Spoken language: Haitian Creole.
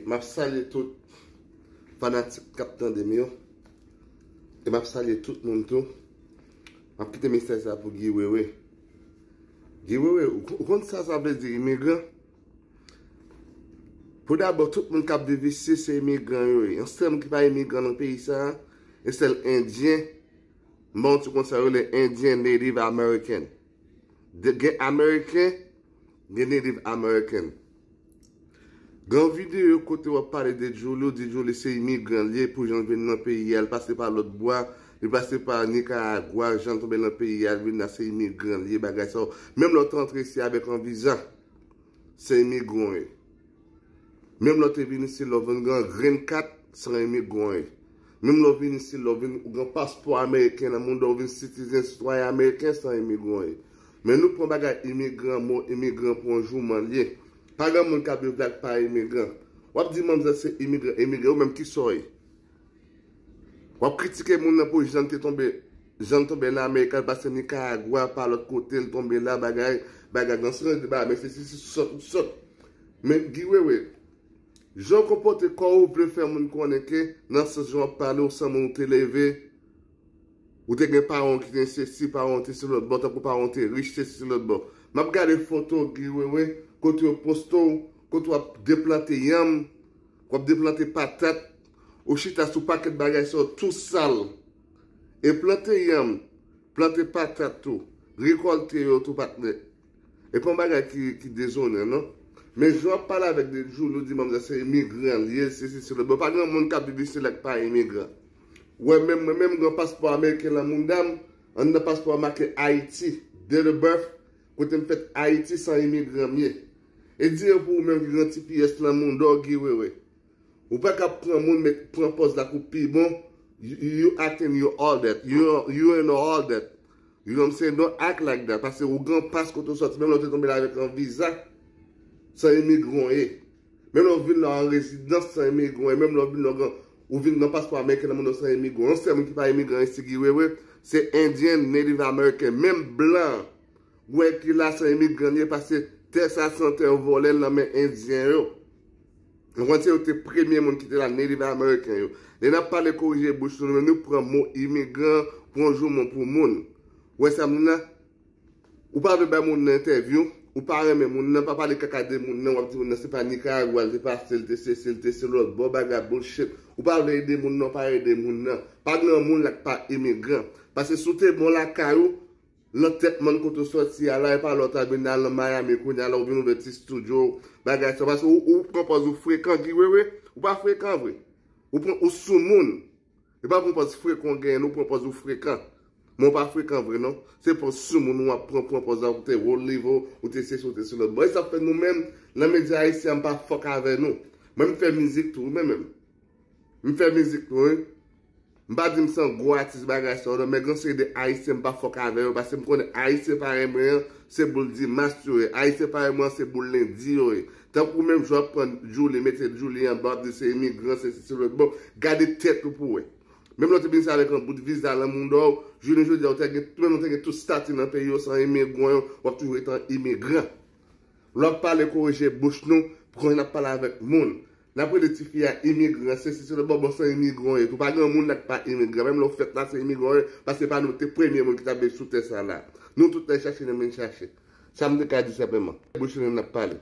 Map salye tout fanatik kap tande m yo e map salye tout moun tou map kite mesaj sa pou Guy Wewe Guy Wewe ou konn sa sa vle di imigran pou dabò tout moun kap viv isi se imigran yo ye yon sèl moun ki pa imigran nan peyi sa e sèl endyen m ban w ti konsèy yo le endyen native american gen american Gen Native American. Gan video kote wap pale de Djouly ou di Djouly se imigran li ye pou janl vin nan peyi a li pase pa lot bwa li pase pa Nicaragua janl tonbe nan peyi a li vin la se imigran li ye bagay sa yo menm lè ou te antre isi avek an viza se imigran ou ye menm lè ou te vin isi lè ou vin gen yon green kat se yon imigran ou ye Menm lè w vin isit la, w vin, ou gen paspò ameriken nan men w, donk ou vin sitizen, sitwayen ameriken san imigran w ye. Men nou pran bagay imigran, mo imigran pou yon jouman l ye. Pa gen moun k ap viv la k pa imigran. W ap di manzè se imigran, imigran, ou menm ki sa w ye? W ap kritike moun nan pou jan l te tonbe, jan l tonbe nan Amerika, l pase Nikaragwa, pa lòt kote, l tonbe la, bagay, bagay, nan sou nan di bagay, men se sesi, sòt, sòt. Men Guy Wewe. Jan w konpòte kò ou vle fè moun konnen ke nan sans jan w ap pale ou san moun ou te leve, ou te gen paran w ki te sesi, paran w te se lòtbò, tankou paran w te rich, sesi se lòtbò. M ap gade foto Guy Wewe kote yo poste w, kote w ap deplante yanm, w ap deplante patat, ou chita sou pakèt bagay sa yo tou sal. E plante yanm, plante patat tou, rekòlte yo tou patnè. E pa yon bagay ki dezonan non. Men jan wap pale avèk de jour nou di manmzèl se imigran li ye, sesi sela. Bon pa gen yon moun kap viv isi la ki pa imigran. Wè menm mwen menm gen paspò ameriken lan mouda m, anndan paspò a make Ayiti, date of birth, kote m fèt Ayiti san imigran m ye. E di yo pou ou menm ki gen yon ti pyès lan mouda w Guy Wewe. Ou pa ka pran moun met pran pòz la kou pi bon, you acting you all that, you know all that. Guillaume Cendon ak Lagda pase ougan pas kote ou sòti menm lè ou te tonbe la avèk yon viza san imigran w ye menm lè ou vin la an rezidans san imigran w ye menm lè ou vin la ou vin gen paspò ameriken nan men w san imigran yon sèl moun ki pa imigran isi ki wewe se indien native american menm blan wè ki la san imigran l ye pase tè sa se yon tè yo vòlè l nan men indien yo. Nou konn se yo ki te premye moun ki te la, Native American yo. Lè n ap pale korije bouch nou, nou pran mo imigran pou yon joumou pou moun. Ou wè sa m di la? Ou pa vle bay moun nan entèvyou, ou pa renmen moun nan, pa pale kaka de moun nan, w ap di moun nan se pa Nikaragwa l te pase, l te sesi, l te selòt, bon bagay, bullshit. Ou pa vle ede moun nan, ou pa ede moun nan. Pa gen yon moun la ki pa imigran. Paske si w te bon lakay ou, Lan tèt mòn kote w sòti a la epa lè w ta vin al lan Miami kounye a la ou vin ouvè ti studio bagay sa paske ou pran pòz ou frekan Guy Wewe ou pa frekan vre ou pran ou sou moun epa pran pòz frekan w genyen non ou pran pòz ou frekan men ou pa frekan vre non se pòz sou moun ou ap pran pran pòz la ou te wo live ou te sesi ou te sela bon esap fè nou menm lan medya ayisyen an m pa fòk avè nou mwen m fè mizik tou wi mwen menm m fè mizik tou wi. M pa di m san gwo atis bagay sa yo nan men gen yon seri de ayisyen m pa fòk avè yo paske m konnen ayisyen parèy mwen an se boul dimas yo ye ayisyen parèy mwen an se boul lendi yo ye tankou ou menm jou ap pran djouli mete djouli anba wap di se imigran sesi selòt bon gade tèt ou pou wè menm lè w te vin isit avèk yon bout viza lan mouda w jounen jodi a ou ta gen menm ou ta gen tout stati nan peyi w san imigran yo wap toujou ret an imigran lè wap pale korije bouch nou konn jan nap pale avèk moun Lap rele tifi a imigran se si se lòt bò bon se imigran w ye tou pa gen yon moun la ki pa imigran menm lè w fèt la se imigran w ye paske se pa nou ki te premye moun ki tap viv sou tè sa la nou tout lè chache nou vin chache sa m te ka di senpleman bouch nou menm lap pale.